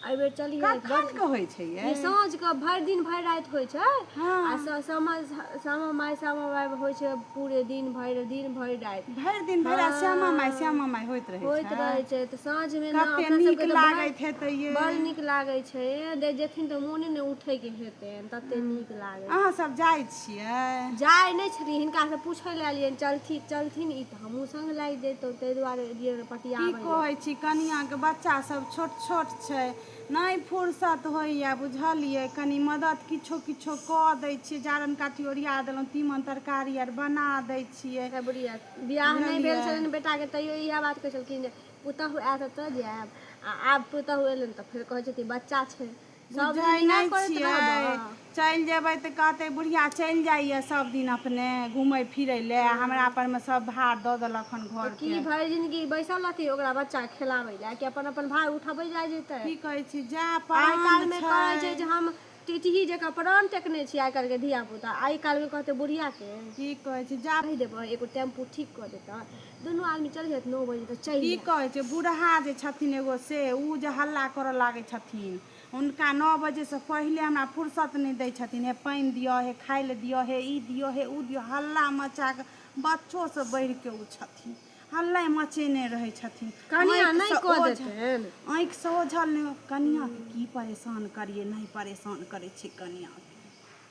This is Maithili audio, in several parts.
एहि बेर चलिए कखन के होइ छै ये ई साँझ के भरि दिन भरि राति होइ छै हँ। आ स- सामा सामा माय सामा माय होइ छै पूरे दिन भरि दिन भरि राति भरि दिन भरि राति श्यामा माय श्यामा माय होइत रहै होइत छै रहै छै तऽ साँझ मे ने कते अपना नीक सबके तऽ बड़- लागैत हेतै ये बड़ नीक लागै छै दे जेथिन तऽ मोने ने उठै के हेतैन तते नीक लागै अहाँ सब जाइ छियै जाइ नहि छथिन हिनका से पूछै लए एलियनि चलथिन चलथिन ई हमहूँ संग लागि जैतहुँ तै दुआरे एलियै रऽ पटियाबै लए। की कहै छी कनियाँ के बच्चा सब छोट-छोट छै। नै फुरसत होइए बुझलियै। कनी मदद किछो-किछो कऽ दै छियै। जारन-काठी ओरिया देलहुँ। तीमन-तरकारी आर बना दै छियै। अबरिया बियाह नै भेल बुझलियै। छलनि बेटा के तैयो इएह बात कहै छलखिन जे पुतहु आएत तऽ जाएब आ आब पुतहु एलनि तऽ फेर कहै छथि बच्चा छै। सब दिन बुझै इएह नहि करैत छियै रहबह चलि जेबै तऽ कहतै बुढ़िया चलि जाइए सब दिन अपने घूमै फिरै लए आ हमरा परमे सब भार दऽ देलक हन तऽ घर की भरि जिनगी बैसल रहतै ओकरा बच्चा खेलाबै लए कि अपन अपन भार उठबै जाइ जेतै की कहै छी जा आइ प्राण काल्हिमे कहै छै जे हम टिटही जकाँ प्राण टेकने छी आइ काल्हिके धियापुता आइ काल्हिमे कहतै बुढ़ियाके की कहै छी जा कहि देबै एगो टेम्पू ठीक कऽ देतै दुनू आदमी चलि जाइत नओ बजे तऽ चलि की कहै छै बूढ़हा जे छथिन एगो से ओ जे हल्ला करऽ लागै छथिन हुनका नओ बजेसँ पहिले हमरा फुर्सत नहि दै छथिन हे पानि दिअ हे खाइ लए दिअ हे ई दिअ हे ओ दिअ हल्ला मचा कऽ बच्चोसँ बढ़ि कऽ ओ छथिन हल्ला मचेने रहै छथिन कनिया आँखिसँ नहि कऽ ओझ- देथिन आँखिसँ ओझल नहि कनियाके की परेशान करियै नहि परेशान करै छै कनियाके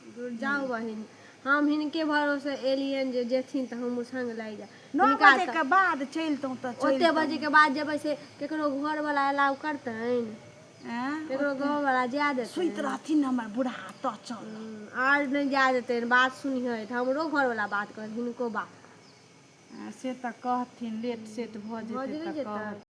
दूर जाउ बहिन हम हिनके भरोसे एलियनि जे जेथिन तऽ हमहूँ संग लागि जायब नओ हिनका बजे तऽ- के बाद चलितहुँ तऽ ओते चलितहुँ। बजे के बाद जेबै से केकरो घर वाला अलाउ करतनि एँ? केकरो गाँव वाला जाय देतै सुति रहथिन ने हमर बूढ़ा तऽ चल आर नहि जाय देतै बात सुनिहै तऽ हमरो घर वाला बात कहत हिनको बात से तऽ कहथिन लेट सेट भऽ भऽ जेतै जेतै तऽ जेतै। कहथिन